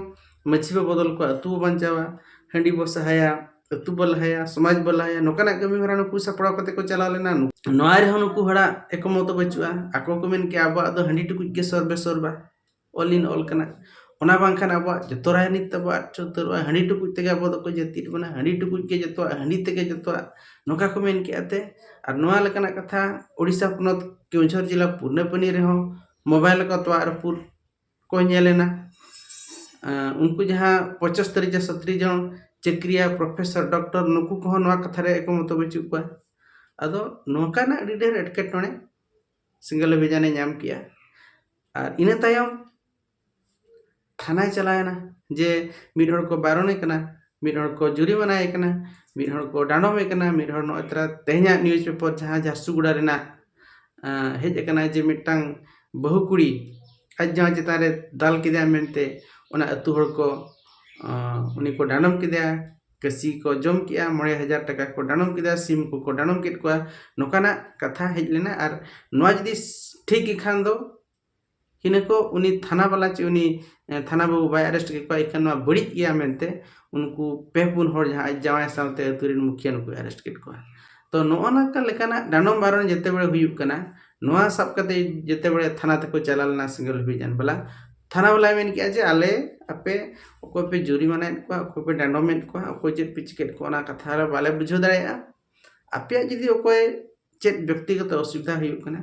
ᱢᱟᱹᱡᱷᱤ ᱵᱚ ᱵᱚᱫᱚᱞ ᱠᱚᱣᱟ ᱟᱛᱳ ᱵᱚ ᱵᱟᱧᱪᱟᱣᱟ ᱦᱟᱺᱰᱤ ᱵᱚ ᱥᱟᱦᱟᱭᱟ ᱟᱛᱳ ᱵᱚ ᱞᱟᱦᱟᱭᱟ ᱥᱚᱢᱟᱡᱽ ᱵᱚ ᱞᱟᱦᱟᱭᱟ ᱱᱚᱝᱠᱟᱱᱟᱜ ᱠᱟᱹᱢᱤ ᱦᱚᱨᱟ ᱱᱩᱠᱩ ᱥᱟᱯᱲᱟᱣ ᱠᱟᱛᱮ ᱠᱚ ᱪᱟᱞᱟᱣ ᱞᱮᱱᱟ ᱱᱚᱣᱟ ᱨᱮᱦᱚᱸ ᱱᱩᱠᱩ ᱦᱚᱲᱟᱜ ᱮᱠᱢᱚᱛᱚ ᱵᱟᱹᱪᱩᱜᱼᱟ ᱟᱠᱚ ᱠᱚ ᱢᱮᱱ ᱠᱮᱜᱼᱟ ᱟᱵᱚᱣᱟᱜ ᱫᱚ ᱦᱟᱺᱰᱤ ᱴᱩᱠᱩᱡ ᱜᱮ ᱥᱚᱨᱵᱮ ᱥᱚᱨᱵᱟ ᱚᱞ ᱤᱱ ᱚᱞ ᱠᱟᱱᱟ ᱚᱱᱟ ᱵᱟᱝᱠᱷᱟᱱ ᱟᱵᱚᱣᱟᱜ ᱡᱚᱛᱚ ᱨᱟᱡᱽᱱᱤᱛᱤ ᱛᱟᱵᱚ ᱟᱫ ᱩᱛᱟᱹᱨᱚᱜᱼᱟ ᱦᱟᱺᱰᱤ ᱴᱩᱠᱩᱡ ᱛᱮᱜᱮ ᱟᱵᱚ ᱫᱚᱠᱚ ᱡᱟᱹᱛᱤᱭᱮᱫ ᱵᱚᱱᱟ ᱦᱟᱺᱰᱤ ᱴᱩᱠᱩᱡ ᱜᱮ ᱡᱚᱛᱚᱣᱟᱜ ᱦᱟᱺᱰᱤ ᱛᱮᱜᱮ ᱡᱚᱛᱚᱣᱟᱜ ᱱᱚᱝᱠᱟ ᱠᱚ ᱢᱮᱱ ᱠᱮᱫᱼᱟ ᱮᱱᱛᱮᱫ ᱟᱨ ᱱᱚᱣᱟ ᱞᱮᱠᱟᱱᱟᱜ ᱠᱟᱛᱷᱟ ᱳᱰᱤᱥᱟ ᱯᱚᱱᱚᱛ ᱠᱮᱣᱡᱷᱚᱨ ᱡᱮᱞᱟ ᱯᱩᱨᱱᱟᱹᱯᱟᱱᱤ ᱨᱮᱦᱚᱸ ᱢᱳᱵᱟᱭᱤᱞ ᱨᱮᱠᱚ ᱛᱳᱣᱟ ᱟᱨ ᱯᱩᱨ ᱠᱚ ᱧᱮᱞ ᱮᱱᱟ ᱩᱱᱠᱩ ᱡᱟᱦᱟᱸ ᱯᱚᱪᱚᱥᱛᱚᱨᱤ ᱡᱚᱱ ᱥᱚᱛᱨᱤ ᱡᱚᱱ ᱪᱟᱹᱠᱨᱤᱭᱟ ᱯᱨᱚᱯᱷᱮᱥᱚᱨ ᱰᱚᱠᱴᱚᱨ ᱱᱩᱠᱩ ᱠᱚᱦᱚᱸ ᱱᱚᱣᱟ ᱠᱟᱛᱷᱟ ᱨᱮ ᱮᱠᱢᱚᱛᱚ ᱵᱟᱹᱪᱩᱜ ᱠᱚᱣᱟ ᱟᱫᱚ ᱱᱚᱝᱠᱟᱱᱟᱜ ᱟᱹᱰᱤ ᱰᱷᱮᱨ ᱮᱴᱠᱮᱴᱚᱬᱮ ᱥᱤᱝᱜᱮᱞ ᱰᱤᱵᱷᱤᱡᱚᱱᱮ ᱧᱟᱢ ᱠᱮᱜᱼᱟ ᱟᱨ ᱤᱱᱟᱹ ᱛᱟᱭᱚᱢ ᱛᱷᱟᱱᱟᱭ ᱪᱟᱞᱟᱣᱮᱱᱟ ᱡᱮ ᱢᱤᱫ ᱦᱚᱲ ᱠᱚ ᱵᱟᱨᱚᱱᱮ ᱠᱟᱱᱟ ᱢᱤᱫ ᱦᱚᱲ ᱠᱚ ᱡᱩᱨᱤᱢᱟᱱᱟᱭᱮ ᱠᱟᱱᱟ ᱢᱤᱫ ᱦᱚᱲ ᱠᱚ ᱰᱟᱸᱰᱚᱢᱮ ᱠᱟᱱᱟ ᱢᱤᱫ ᱦᱚᱲ ᱱᱚᱜᱼᱚᱭ ᱛᱚᱨᱟ ᱛᱮᱦᱮᱧᱟᱜ ᱱᱤᱭᱩᱡᱽ ᱯᱮᱯᱟᱨ ᱡᱟᱦᱟᱸ ᱡᱷᱟᱨᱥᱩᱜᱩᱲᱟ ᱨᱮᱱᱟᱜ ᱦᱮᱡ ᱟᱠᱟᱱᱟ ᱡᱮ ᱢᱤᱫᱴᱟᱝ ᱵᱟᱹᱦᱩ ᱠᱩᱲᱤ ᱟᱡ ᱡᱟᱶᱟᱭ ᱪᱮᱛᱟᱱ ᱨᱮ ᱫᱟᱞ ᱠᱮᱫᱮᱭᱟᱭ ᱢᱮᱱᱛᱮ ᱚᱱᱟ ᱟᱹᱛᱩ ᱦᱚᱲ ᱠᱚ ᱩᱱᱤ ᱠᱚ ᱰᱟᱸᱰᱚᱢ ᱠᱮᱫᱮᱭᱟ ᱠᱟᱹᱥᱤ ᱠᱚ ᱡᱚᱢ ᱠᱮᱜᱼᱟ ᱢᱚᱬᱮ ᱦᱟᱡᱟᱨ ᱴᱟᱠᱟ ᱠᱚ ᱰᱟᱸᱰᱚᱢ ᱠᱮᱫᱟ ᱥᱤᱢ ᱠᱚᱠᱚ ᱰᱟᱸᱰᱚᱢ ᱠᱮᱫ ᱠᱚᱣᱟ ᱱᱚᱝᱠᱟᱱᱟᱜ ᱠᱟᱛᱷᱟ ᱦᱮᱡ ᱞᱮᱱᱟ ᱟᱨ ᱱᱚᱣᱟ ᱡᱩᱫᱤ ᱴᱷᱤᱠ ᱜᱮ ᱠᱷᱟᱱ ᱫᱚ ᱤᱱᱟᱹ ᱠᱚ ᱩᱱᱤ ᱛᱷᱟᱱᱟ ᱵᱟᱞᱟ ᱪᱮ ᱩᱱᱤ ᱛᱷᱟᱱᱟ ᱵᱟᱹᱵᱩ ᱵᱟᱭ ᱟᱨᱮᱥᱴ ᱠᱮᱫ ᱠᱚᱣᱟ ᱮᱱᱠᱷᱟᱱ ᱱᱚᱣᱟ ᱵᱟᱹᱲᱤᱡ ᱜᱮᱭᱟ ᱢᱮᱱᱛᱮ ᱩᱱᱠᱩ ᱯᱮ ᱯᱩᱱ ᱦᱚᱲ ᱡᱟᱦᱟᱸ ᱟᱡ ᱡᱟᱶᱟᱭ ᱥᱟᱶᱛᱮ ᱟᱹᱛᱩ ᱨᱮᱱ ᱢᱩᱠᱷᱤᱭᱟᱹ ᱱᱩᱠᱩᱭ ᱟᱨᱮᱥᱴ ᱠᱮᱫ ᱠᱚᱣᱟ ᱛᱚ ᱱᱚᱜᱼᱚ ᱱᱚᱝᱠᱟ ᱞᱮᱠᱟᱱᱟᱜ ᱰᱟᱸᱰᱚᱢ ᱵᱟᱨᱚᱱ ᱡᱮᱛᱮ ᱵᱟᱨᱮ ᱦᱩᱭᱩᱜ ᱠᱟᱱᱟ ᱱᱚᱣᱟ ᱥᱟᱵ ᱠᱟᱛᱮ ᱡᱮᱛᱮ ᱵᱟᱨᱮ ᱛᱷᱟᱱᱟ ᱛᱮᱠᱚ ᱪᱟᱞᱟᱣ ᱞᱮᱱᱟ ᱥᱤᱸᱜᱚᱞ ᱵᱤᱨ ᱨᱮᱱ ᱵᱟᱞᱟ ᱛᱷᱟᱱᱟ ᱵᱟᱞᱟᱭ ᱢᱮᱱ ᱠᱮᱫᱼᱟ ᱡᱮ ᱟᱞᱮ ᱟᱯᱮ ᱚᱠᱚᱭ ᱯᱮ ᱡᱩᱨᱤᱢᱟᱱᱟᱭᱮᱫ ᱠᱚᱣᱟ ᱚᱠᱚᱭ ᱯᱮ ᱰᱟᱸᱰᱚᱢᱮᱫ ᱠᱚᱣᱟ ᱚᱠᱚᱭ ᱪᱮᱫ ᱯᱮ ᱪᱤᱠᱟᱹᱭᱮᱫ ᱠᱚᱣᱟ ᱚᱱᱟ ᱠᱟᱛᱷᱟ ᱨᱮ ᱵᱟᱞᱮ ᱵᱩᱡᱷᱟᱹᱣ ᱫᱟᱲᱮᱭᱟᱜᱼᱟ ᱟᱯᱮᱭᱟᱜ ᱡᱩᱫᱤ ᱚᱠᱚᱭ ᱪᱮᱫ ᱵᱮᱠᱛᱤᱜᱚᱛᱚ ᱚᱥᱩᱵᱤᱫᱷᱟ ᱦᱩᱭᱩᱜ ᱠᱟᱱᱟ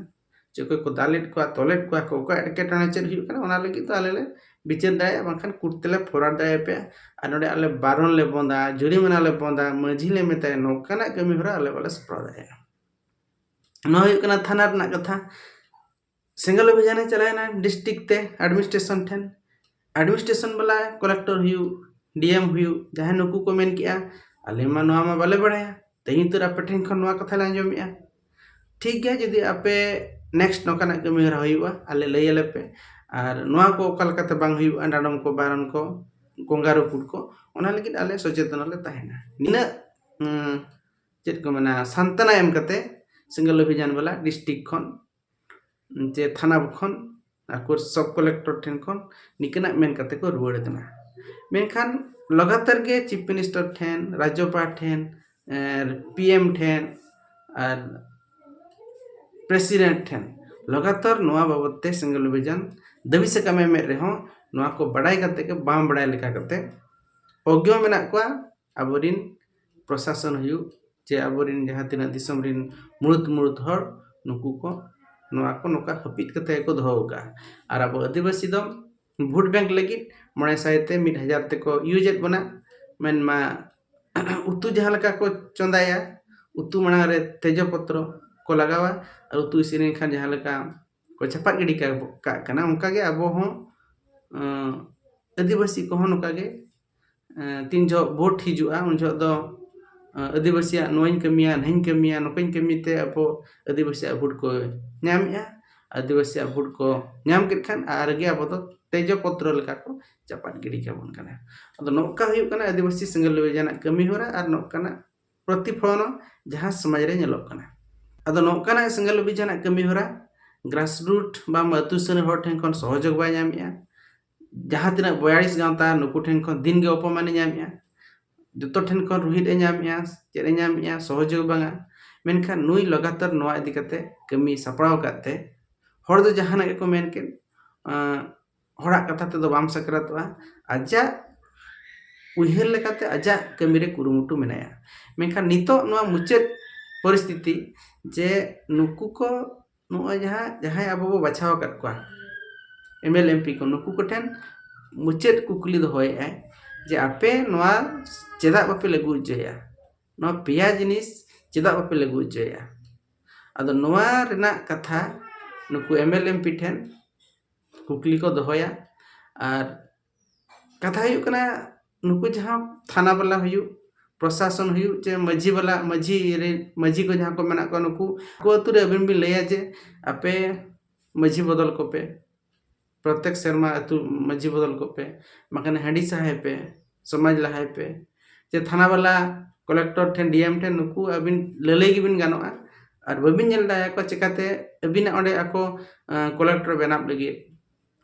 ᱪᱮ ᱚᱠᱚᱭ ᱠᱚ ᱫᱟᱞᱮᱫ ᱠᱚᱣᱟ ᱛᱚᱞᱮᱫ ᱠᱚᱣᱟ ᱠᱚ ᱚᱠᱚᱭᱟᱜ ᱮᱴᱠᱮᱴᱚᱬᱮ ᱪᱮᱫ ᱦᱩᱭᱩᱜ ᱠᱟᱱᱟ ᱚᱱᱟ ᱞᱟᱹᱜᱤᱫ ᱫᱚ ᱟᱞᱮ ᱞᱮ ᱵᱤᱪᱟᱹᱨ ᱫᱟᱲᱮᱭᱟᱜᱼᱟ ᱵᱟᱝᱠᱷᱟᱱ ᱠᱳᱨᱴ ᱛᱮᱞᱮ ᱯᱷᱚᱨᱣᱟᱨᱰ ᱫᱟᱲᱮᱭᱟᱯᱮᱭᱟ ᱟᱨ ᱱᱚᱰᱮ ᱟᱞᱮ ᱵᱟᱨᱚᱱ ᱞᱮ ᱵᱚᱸᱫᱟ ᱡᱩᱨᱤᱢᱟᱱᱟ ᱞᱮ ᱵᱚᱸᱫᱟ ᱢᱟᱺᱡᱷᱤ ᱞᱮ ᱢᱮᱛᱟᱭᱟ ᱱᱚᱝᱠᱟᱱᱟᱜ ᱠᱟᱹᱢᱤ ᱦᱚᱨᱟ ᱟᱞᱮ ᱵᱟᱞᱮ ᱥᱟᱯᱲᱟᱣ ᱫᱟᱲᱮᱭᱟᱜᱼᱟ ᱱᱚᱣᱟ ᱦᱩᱭᱩᱜ ᱠᱟᱱᱟ ᱛᱷᱟᱱᱟ ᱨᱮᱱᱟᱜ ᱠᱟᱛᱷᱟ ᱥᱮᱸᱜᱮᱞ ᱚᱵᱷᱤᱡᱟᱱᱮ ᱪᱟᱞᱟᱣᱮᱱᱟ ᱰᱤᱥᱴᱨᱤᱠ ᱛᱮ ᱮᱰᱢᱤᱱᱤᱥᱴᱨᱮᱥᱚᱱ ᱴᱷᱮᱱ ᱮᱰᱢᱤᱱᱤᱥᱴᱨᱮᱥᱚᱱ ᱵᱟᱞᱟ ᱠᱚᱞᱮᱠᱴᱚᱨ ᱦᱩᱭᱩᱜ ᱰᱤᱮᱢ ᱦᱩᱭᱩᱜ ᱡᱟᱦᱟᱸᱭ ᱱᱩᱠᱩ ᱠᱚ ᱢᱮᱱ ᱠᱮᱜᱼᱟ ᱟᱞᱮ ᱢᱟ ᱱᱚᱣᱟ ᱢᱟ ᱵᱟᱞᱮ ᱵᱟᱲᱟᱭᱟ ᱛᱮᱦᱮᱧ ᱩᱛᱟᱹᱨ ᱟᱯᱮ ᱴᱷᱮᱱ ᱠᱷᱚᱱ ᱱᱚᱣᱟ ᱠᱟᱛᱷᱟ ᱞᱮ ᱟᱸᱡᱚᱢᱮᱜᱼᱟ ᱴᱷᱤᱠ ᱜᱮᱭᱟ ᱡᱩᱫᱤ ᱟᱯᱮ ᱱᱮᱠᱥᱴ ᱱᱚᱝᱠᱟᱱᱟᱜ ᱠᱟᱹᱢᱤ ᱦᱚᱨᱟ ᱦᱩᱭᱩᱜᱼᱟ ᱟᱞᱮ ᱞᱟᱹᱭ ᱟᱞᱮ ᱯᱮ ᱟᱨ ᱱᱚᱣᱟ ᱠᱚ ᱚᱠᱟ ᱞᱮᱠᱟᱛᱮ ᱵᱟᱝ ᱦᱩᱭᱩᱜᱼᱟ ᱰᱟᱸᱰᱚᱢ ᱠᱚ ᱵᱟᱨᱚᱱ ᱠᱚ ᱜᱚᱝᱜᱟ ᱨᱟᱹᱯᱩᱫ ᱠᱚ ᱚᱱᱟ ᱞᱟᱹᱜᱤᱫ ᱟᱞᱮ ᱥᱚᱪᱮᱛᱚᱱ ᱞᱮ ᱛᱟᱦᱮᱱᱟ ᱱᱤᱱᱟᱹᱜ ᱪᱮᱫ ᱠᱚ ᱢᱮᱱᱟ ᱥᱟᱱᱛᱟᱱᱟ ᱮᱢ ᱠᱟᱛᱮ ᱥᱮᱸᱜᱮᱞ ᱚᱵᱷᱤᱡᱟᱱ ᱵᱟᱞᱟ ᱰᱤᱥᱴᱨᱤᱠ ᱠᱷᱚᱱ ᱡᱮ ᱛᱷᱟᱱᱟ ᱠᱷᱚᱱ ᱟᱠᱚ ᱥᱚᱵ ᱠᱟᱞᱮᱠᱴᱚᱨ ᱴᱷᱮᱱ ᱠᱷᱚᱱ ᱱᱤᱠᱟᱹᱱᱟᱜ ᱢᱮᱱ ᱠᱟᱛᱮ ᱠᱚ ᱨᱩᱣᱟᱹᱲ ᱠᱟᱱᱟ ᱢᱮᱱᱠᱷᱟᱱ ᱞᱟᱜᱟᱛᱟᱨ ᱜᱮ ᱪᱤᱯ ᱢᱤᱱᱤᱥᱴᱟᱨ ᱴᱷᱮᱱ ᱨᱟᱡᱽᱡᱚᱯᱟᱲ ᱴᱷᱮᱱ ᱯᱤ ᱮᱢ ᱴᱷᱮᱱ ᱟᱨ ᱯᱨᱮᱥᱤᱰᱮᱱᱴ ᱴᱷᱮᱱ ᱞᱟᱜᱟᱛᱟᱨ ᱱᱚᱣᱟ ᱵᱟᱵᱚᱛ ᱛᱮ ᱥᱮᱸᱜᱮᱞ ᱚᱵᱷᱤᱡᱟᱱ ᱫᱟᱹᱵᱤ ᱥᱟᱠᱟᱢᱮ ᱮᱢᱮᱫ ᱨᱮᱦᱚᱸ ᱱᱚᱣᱟ ᱠᱚ ᱵᱟᱰᱟᱭ ᱠᱟᱛᱮ ᱜᱮ ᱵᱟᱝ ᱵᱟᱰᱟᱭ ᱞᱮᱠᱟ ᱠᱟᱛᱮ ᱚᱜᱽᱜᱚ ᱢᱮᱱᱟᱜ ᱠᱚᱣᱟ ᱟᱵᱚ ᱨᱤᱱ ᱯᱨᱚᱥᱟᱥᱚᱱ ᱦᱩᱭᱩᱜ ᱪᱮ ᱟᱵᱚ ᱨᱤᱱ ᱡᱟᱦᱟᱸ ᱛᱤᱱᱟᱹᱜ ᱫᱤᱥᱚᱢ ᱨᱤᱱ ᱢᱩᱬᱩᱛ ᱢᱩᱬᱩᱛ ᱦᱚᱲ ᱱᱩᱠᱩ ᱠᱚ ᱱᱚᱣᱟ ᱠᱚ ᱱᱚᱝᱠᱟ ᱦᱟᱹᱯᱤᱫ ᱠᱟᱛᱮ ᱜᱮᱠᱚ ᱫᱚᱦᱚ ᱟᱠᱟᱫᱼᱟ ᱟᱨ ᱟᱵᱚ ᱟᱹᱫᱤᱵᱟᱹᱥᱤ ᱫᱚ ᱵᱷᱳᱴ ᱵᱮᱝᱠ ᱞᱟᱹᱜᱤᱫ ᱢᱚᱬᱮ ᱥᱟᱭ ᱛᱮ ᱢᱤᱫ ᱦᱟᱡᱟᱨ ᱛᱮᱠᱚ ᱤᱭᱩᱡᱮᱫ ᱵᱚᱱᱟ ᱢᱮᱱᱢᱟ ᱩᱛᱩ ᱡᱟᱦᱟᱸ ᱞᱮᱠᱟ ᱠᱚ ᱪᱚᱸᱫᱟᱭᱟ ᱩᱛᱩ ᱢᱟᱲᱟᱝ ᱨᱮ ᱛᱮᱡᱚ ᱯᱚᱛᱨᱚ ᱠᱚ ᱞᱟᱜᱟᱣᱟ ᱟᱨ ᱩᱛᱩ ᱤᱥᱤᱱ ᱞᱮᱱᱠᱷᱟᱱ ᱡᱟᱦᱟᱸ ᱞᱮᱠᱟ ᱠᱚ ᱪᱟᱯᱟᱫ ᱜᱤᱰᱤ ᱠᱟᱜ ᱠᱟᱱᱟ ᱚᱱᱠᱟ ᱜᱮ ᱟᱵᱚ ᱦᱚᱸ ᱟᱹᱫᱤᱵᱟᱹᱥᱤ ᱠᱚᱦᱚᱸ ᱱᱚᱝᱠᱟ ᱜᱮ ᱛᱤᱱ ᱡᱚᱦᱚᱜ ᱵᱷᱳᱴ ᱦᱤᱡᱩᱜᱼᱟ ᱩᱱ ᱡᱚᱦᱚᱜ ᱫᱚ ᱟᱹᱫᱤᱵᱟᱹᱥᱤᱭᱟᱜ ᱱᱚᱣᱟᱧ ᱠᱟᱹᱢᱤᱭᱟ ᱱᱟᱹᱧ ᱠᱟᱹᱢᱤᱭᱟ ᱱᱚᱝᱠᱟᱧ ᱠᱟᱹᱢᱤ ᱛᱮ ᱟᱵᱚ ᱟᱹᱫᱤᱵᱟᱹᱥᱤᱭᱟᱜ ᱵᱷᱳᱴ ᱠᱚ ᱧᱟᱢᱮᱜᱼᱟ ᱟᱹᱫᱤᱵᱟᱹᱥᱤᱭᱟᱜ ᱵᱷᱳᱴ ᱠᱚ ᱧᱟᱢ ᱠᱮᱫ ᱠᱷᱟᱱ ᱟᱨ ᱜᱮ ᱟᱵᱚ ᱫᱚ ᱛᱮᱡᱚ ᱯᱚᱛᱨᱚ ᱞᱮᱠᱟ ᱠᱚ ᱪᱟᱯᱟᱫ ᱜᱤᱰᱤ ᱠᱟᱵᱚᱱ ᱠᱟᱱᱟ ᱟᱫᱚ ᱱᱚᱝᱠᱟ ᱦᱩᱭᱩᱜ ᱠᱟᱱᱟ ᱟᱹᱫᱤᱵᱟᱹᱥᱤ ᱥᱮᱸᱜᱮᱞ ᱞᱟᱹᱣᱤᱡ ᱟᱱᱟᱜ ᱠᱟᱹᱢᱤ ᱦᱚᱨᱟ ᱟᱨ ᱱᱚᱝᱠᱟᱱᱟᱜ ᱯᱨᱚᱛᱤᱯᱷᱚᱞᱚᱱ ᱦᱚᱸ ᱡᱟᱦᱟᱸ ᱥᱚᱢᱟᱡᱽ ᱨᱮ ᱧᱮᱞᱚᱜ ᱠᱟᱱᱟ ᱟᱫᱚ ᱱᱚᱝᱠᱟᱱᱟᱜ ᱥᱮᱸᱜᱮᱞ ᱞᱟᱹᱣᱤᱡ ᱟᱱᱟᱜ ᱠᱟᱹᱢᱤ ᱦᱚᱨᱟ ᱜᱨᱟᱥ ᱨᱩᱴ ᱵᱟᱝ ᱟᱹᱛᱩ ᱥᱩᱨ ᱨᱮᱱ ᱦᱚᱲ ᱴᱷᱮᱱ ᱠᱷᱚᱱ ᱥᱚᱦᱚᱡᱳᱜᱽ ᱵᱟᱭ ᱧᱟᱢᱮᱜᱼᱟ ᱡᱟᱦᱟᱸ ᱛᱤᱱᱟᱹᱜ ᱵᱚᱭᱟᱲᱤᱥ ᱜᱟᱶᱛᱟ ᱱᱩᱠᱩ ᱴᱷᱮᱱ ᱠᱷᱚᱱ ᱫᱤᱱ ᱜᱮ ᱚᱯᱚᱢᱟᱱ ᱮ ᱧᱟᱢᱮᱜᱼᱟ ᱡᱚᱛᱚ ᱴᱷᱮᱱ ᱠᱷᱚᱱ ᱨᱩᱦᱮᱫ ᱮ ᱧᱟᱢᱮᱜᱼᱟ ᱪᱮᱫ ᱮ ᱧᱟᱢᱮᱜᱼᱟ ᱥᱚᱦᱚᱡᱳᱜᱽ ᱵᱟᱝᱟ ᱢᱮᱱᱠᱷᱟᱱ ᱱᱩᱭ ᱞᱟᱜᱟᱛᱟᱨ ᱱᱚᱣᱟ ᱤᱫᱤ ᱠᱟᱛᱮ ᱠᱟᱹᱢᱤ ᱥᱟᱯᱲᱟᱣ ᱟᱠᱟᱫ ᱛᱮ ᱦᱚᱲ ᱫᱚ ᱡᱟᱦᱟᱱᱟᱜ ᱜᱮᱠᱚ ᱢᱮᱱ ᱠᱮᱫ ᱦᱚᱲᱟᱜ ᱠᱟᱛᱷᱟ ᱛᱮᱫᱚ ᱵᱟᱢ ᱥᱟᱠᱨᱟᱛᱚᱜᱼᱟ ᱟᱡᱟᱜ ᱩᱭᱦᱟᱹᱨ ᱞᱮᱠᱟᱛᱮ ᱟᱡᱟᱜ ᱠᱟᱹᱢᱤ ᱨᱮ ᱠᱩᱨᱩᱢᱩᱴᱩ ᱢᱮᱱᱟᱭᱟ ᱢᱮᱱᱠᱷᱟᱱ ᱱᱤᱛᱚᱜ ᱱᱚᱣᱟ ᱢᱩᱪᱟᱹᱫ ᱯᱚᱨᱤᱥᱛᱷᱤᱛᱤ ᱡᱮ ᱱᱩᱠᱩ ᱠᱚ ᱱᱚᱜᱼᱚᱭ ᱡᱟᱦᱟᱸ ᱡᱟᱦᱟᱸᱭ ᱟᱵᱚ ᱵᱚᱱ ᱵᱟᱪᱷᱟᱣ ᱟᱠᱟᱫ ᱠᱚᱣᱟ M L A M P ᱠᱚ ᱱᱩᱠᱩ ᱠᱚᱴᱷᱮᱱ ᱢᱩᱪᱟᱹᱫ ᱠᱩᱠᱞᱤ ᱫᱚᱦᱚᱭᱮᱫᱼᱟᱭ ᱡᱮ ᱟᱯᱮ ᱱᱚᱣᱟ ᱪᱮᱫᱟᱜ ᱵᱟᱯᱮ ᱞᱟᱹᱜᱩ ᱦᱚᱪᱚᱭᱮᱫᱼᱟ ᱱᱚᱣᱟ ᱯᱮᱭᱟ ᱡᱤᱱᱤᱥ ᱪᱮᱫᱟᱜ ᱵᱟᱯᱮ ᱞᱟᱹᱜᱩ ᱦᱚᱪᱚᱭᱮᱫᱼᱟ ᱟᱫᱚ ᱱᱚᱣᱟ ᱨᱮᱱᱟᱜ ᱠᱟᱛᱷᱟ ᱱᱩᱠᱩ M L A M P ᱴᱷᱮᱱ ᱠᱩᱠᱞᱤ ᱠᱚ ᱫᱚᱦᱚᱭᱟ ᱟᱨ ᱠᱟᱛᱷᱟ ᱦᱩᱭᱩᱜ ᱠᱟᱱᱟ ᱱᱩᱠᱩ ᱡᱟᱦᱟᱸ ᱛᱷᱟᱱᱟ ᱵᱟᱞᱟ ᱦᱩᱭᱩᱜ ᱯᱨᱚᱥᱟᱥᱚᱱ ᱦᱩᱭᱩᱜ ᱪᱮ ᱢᱟᱹᱡᱷᱤ ᱵᱟᱞᱟ ᱢᱟᱹᱡᱷᱤ ᱨᱮᱱ ᱢᱟᱹᱡᱷᱤ ᱠᱚ ᱡᱟᱦᱟᱸᱭ ᱠᱚ ᱢᱮᱱᱟᱜ ᱠᱚᱣᱟ ᱱᱩᱠᱩ ᱟᱠᱚ ᱟᱛᱳ ᱨᱮ ᱟᱹᱵᱤᱱ ᱵᱤᱱ ᱞᱟᱹᱭᱟ ᱡᱮ ᱟᱯᱮ ᱢᱟᱹᱡᱷᱤ ᱵᱚᱫᱚᱞ ᱠᱚᱯᱮ ᱯᱨᱚᱛᱮᱠ ᱥᱮᱨᱢᱟ ᱟᱛᱳ ᱢᱟᱹᱡᱷᱤ ᱵᱚᱫᱚᱞ ᱠᱚᱯᱮ ᱵᱟᱠᱷᱟᱱ ᱦᱟᱺᱰᱤ ᱥᱟᱦᱟᱭ ᱯᱮ ᱥᱚᱢᱟᱡᱽ ᱞᱟᱦᱟᱭ ᱯᱮ ᱡᱮ ᱛᱷᱟᱱᱟ ᱵᱟᱞᱟ ᱠᱚᱞᱮᱠᱴᱚᱨ ᱴᱷᱮᱱ ᱰᱤ ᱮᱢ ᱴᱷᱮᱱ ᱱᱩᱠᱩ ᱟᱹᱵᱤᱱ ᱞᱟᱹᱞᱟᱹᱭ ᱜᱮᱵᱤᱱ ᱜᱟᱱᱚᱜᱼᱟ ᱟᱨ ᱵᱟᱹᱵᱤᱱ ᱧᱮᱞ ᱫᱟᱲᱮᱭᱟᱠᱚᱣᱟ ᱪᱤᱠᱟᱹᱛᱮ ᱟᱹᱵᱤᱱᱟᱜ ᱚᱸᱰᱮ ᱟᱠᱚ ᱠᱚᱞᱮᱠᱴᱚᱨ ᱵᱮᱱᱟᱣ ᱞᱟᱹᱜᱤᱫ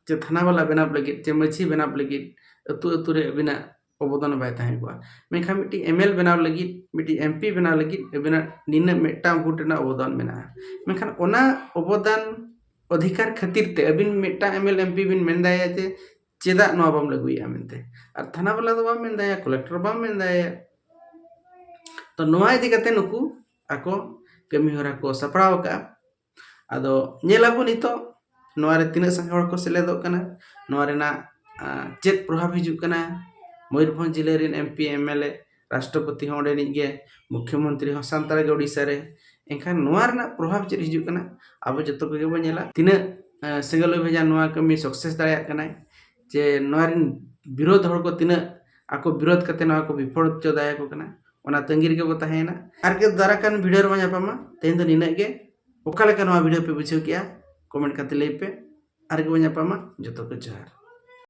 ᱪᱮ ᱛᱷᱟᱱᱟ ᱵᱟᱞᱟ ᱵᱮᱱᱟᱣ ᱞᱟᱹᱜᱤᱫ ᱪᱮ ᱢᱟᱺᱡᱷᱤ ᱵᱮᱱᱟᱣ ᱞᱟᱹᱜᱤᱫ ᱟᱹᱛᱩ ᱟᱹᱛᱩ ᱨᱮ ᱟᱹᱵᱤᱱᱟᱜ ᱚᱵᱚᱫᱟᱱ ᱵᱟᱭ ᱛᱟᱦᱮᱸ ᱠᱚᱜᱼᱟ ᱢᱮᱱᱠᱷᱟᱱ ᱢᱤᱫᱴᱤᱡ ᱮᱢ ᱮᱞ ᱮ ᱵᱮᱱᱟᱣ ᱞᱟᱹᱜᱤᱫ ᱢᱤᱫᱴᱤᱡ ᱮᱢ ᱯᱤ ᱵᱮᱱᱟᱣ ᱞᱟᱹᱜᱤᱫ ᱟᱹᱵᱤᱱᱟᱜ ᱱᱤᱱᱟᱹᱜ ᱢᱤᱫᱴᱟᱝ ᱵᱷᱳᱴ ᱨᱮᱱᱟᱜ ᱚᱵᱚᱫᱟᱱ ᱢᱮᱱᱟᱜᱼᱟ ᱢᱮᱱᱠᱷᱟᱱ ᱚᱱᱟ ᱚᱵᱚᱫᱟᱱ ᱚᱫᱷᱤᱠᱟᱨ ᱠᱷᱟᱹᱛᱤᱨ ᱛᱮ ᱟᱹᱵᱤᱱ ᱢᱤᱫᱴᱟᱝ M L A M P ᱵᱤᱱ ᱢᱮᱱ ᱫᱟᱲᱮᱭᱟᱭᱟ ᱡᱮ ᱪᱮᱫᱟᱜ ᱱᱚᱣᱟ ᱵᱟᱢ ᱞᱟᱹᱜᱩᱭᱮᱜᱼᱟ ᱢᱮᱱᱛᱮ ᱟᱨ ᱛᱷᱟᱱᱟ ᱵᱟᱞᱟ ᱫᱚ ᱵᱟᱢ ᱢᱮᱱ ᱫᱟᱲᱮᱭᱟᱭᱟ ᱠᱚᱞᱮᱠᱴᱚᱨ ᱵᱟᱢ ᱢᱮᱱ ᱫᱟᱲᱮᱭᱟᱭᱟ ᱛᱚ ᱱᱚᱣᱟ ᱤᱫᱤ ᱠᱟᱛᱮᱫ ᱱᱩᱠᱩ ᱟᱠᱚ ᱠᱟᱹᱢᱤ ᱦᱚᱨᱟ ᱠᱚ ᱥᱟᱯᱲᱟᱣ ᱠᱟᱜᱼᱟ ᱟᱫᱚ ᱧᱮᱞ ᱟᱵᱚ ᱱᱤᱛᱚᱜ ᱱᱚᱣᱟ ᱨᱮ ᱛᱤᱱᱟᱹᱜ ᱥᱟᱸᱜᱮ ᱦᱚᱲ ᱠᱚ ᱥᱮᱞᱮᱫᱚᱜ ᱠᱟᱱᱟ ᱱᱚᱣᱟ ᱨᱮᱱᱟᱜ ᱪᱮᱫ ᱯᱨᱚᱵᱷᱟᱵᱽ ᱦᱤᱡᱩᱜ ᱠᱟᱱᱟ ᱢᱚᱭᱩᱨᱵᱷᱚᱸᱡᱽ ᱡᱮᱞᱟ ᱨᱮᱱ M P M L A ᱨᱟᱥᱴᱨᱚᱯᱚᱛᱤ ᱦᱚᱸ ᱚᱸᱰᱮᱱᱤᱡ ᱜᱮ ᱢᱩᱠᱷᱭᱚ ᱢᱚᱱᱛᱨᱤ ᱦᱚᱸ ᱥᱟᱱᱛᱟᱲ ᱜᱮ ᱳᱰᱤᱥᱟ ᱨᱮ ᱮᱱᱠᱷᱟᱱ ᱱᱚᱣᱟ ᱨᱮᱱᱟᱜ ᱯᱨᱚᱵᱷᱟᱵᱽ ᱪᱮᱫ ᱦᱤᱡᱩᱜ ᱠᱟᱱᱟ ᱟᱵᱚ ᱡᱚᱛᱚ ᱠᱚᱜᱮ ᱵᱚᱱ ᱧᱮᱞᱟ ᱛᱤᱱᱟᱹᱜ ᱥᱤᱸᱜᱚᱞ ᱚᱵᱷᱤᱡᱟᱱ ᱱᱚᱣᱟ ᱠᱟᱹᱢᱤ ᱥᱟᱠᱥᱮᱥ ᱫᱟᱲᱮᱭᱟᱜ ᱠᱟᱱᱟᱭ ᱡᱮ ᱱᱚᱣᱟ ᱨᱮᱱ ᱵᱤᱨᱳᱫᱷ ᱦᱚᱲ ᱠᱚ ᱛᱤᱱᱟᱹᱜ ᱟᱠᱚ ᱵᱤᱨᱳᱫᱷ ᱠᱟᱛᱮ ᱱᱚᱣᱟ ᱠᱚ ᱵᱤᱯᱷᱚᱞ ᱦᱚᱪᱚ ᱫᱟᱲᱮᱭᱟᱠᱚ ᱠᱟᱱᱟ ᱚᱱᱟ ᱛᱟᱺᱜᱤ ᱨᱮᱜᱮ ᱵᱚ ᱛᱟᱦᱮᱸᱭᱮᱱᱟ ᱟᱨ ᱜᱮ ᱫᱟᱨᱟ ᱠᱟᱱ ᱵᱷᱤᱰᱤᱭᱳ ᱨᱮᱵᱚ ᱧᱟᱯᱟᱢᱟ ᱛᱮᱦᱮᱧ ᱫᱚ ᱱᱤᱱᱟᱹᱜ ᱜᱮ ᱚᱠᱟ ᱞᱮᱠᱟ ᱱᱚᱣᱟ ᱵᱷᱤᱰᱤᱭᱳ ᱯᱮ ᱵᱩᱡᱷᱟᱹᱣ ᱠᱮᱜᱼᱟ ᱠᱚᱢᱮᱱᱴ ᱠᱟᱛᱮ ᱞᱟᱹᱭ ᱯᱮ ᱟᱨ ᱜᱮ ᱵᱚ ᱧᱟᱯᱟᱢᱟ ᱡᱚᱛᱚ ᱠᱚ ᱡᱚᱦᱟᱨ